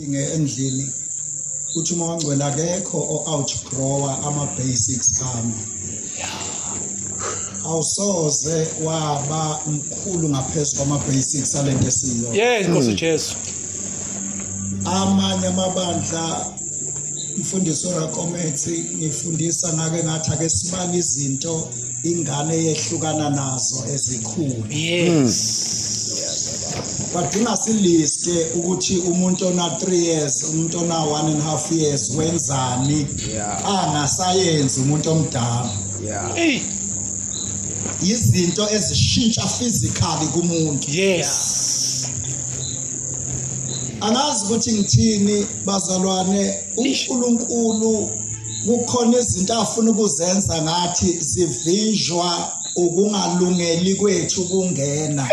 endlini uthi uma wangcwela akekho o-outgrower ama-basics ami awusoze waba mkhulu ngaphezu kwama-basics ale nto esiyo yes nkosi hmm. jesu amanye amabandla mfundisi orakomethi ngifundisa ngake ngathi ake sibale izinto ingane yehlukana nazo ezikhulu yes badinga siliste ukuthi umuntu ona 3 years umuntu ona 1 and half years wenzani angasayenzi umuntu omdala yeah izinto ezishintsha physically kumuntu yes angazi ukuthi ngithini bazalwane uNkulunkulu kukhona izinto afuna ukuzenza ngathi zivinjwa ukungalungeli kwethu kungena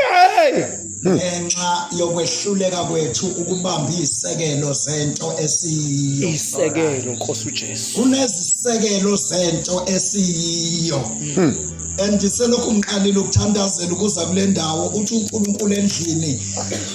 ngenxa yokwehluleka kwethu ukubamba izisekelo zento esiyiyo isekelo Nkosi uJesu kunezisekelo zento esiyiyo hmm. and selokhu ngiqalile ukuthandazela ukuza kule ndawo uthi uNkulunkulu endlini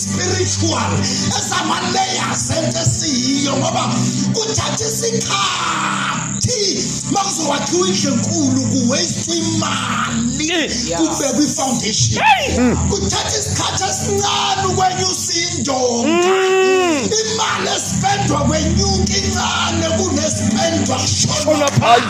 spiritual ezama layers ento esiyiyo ngoba kuthatha isikhathi makuzowakhiwa indlu enkulu kuwaste imali kubekwa i-foundation mm. kuthatha isikhathi esincane ukwenyusa indonga mm. imali esipendwa kwenyuka incane kunespendwa shona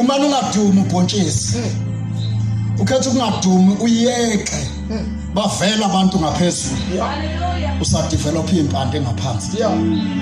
uma ungadumi ubhontshisi hmm. ukhetha ukungadumi uyeke hmm. bavela abantu ngaphezulu usadevelopha impande ngaphansi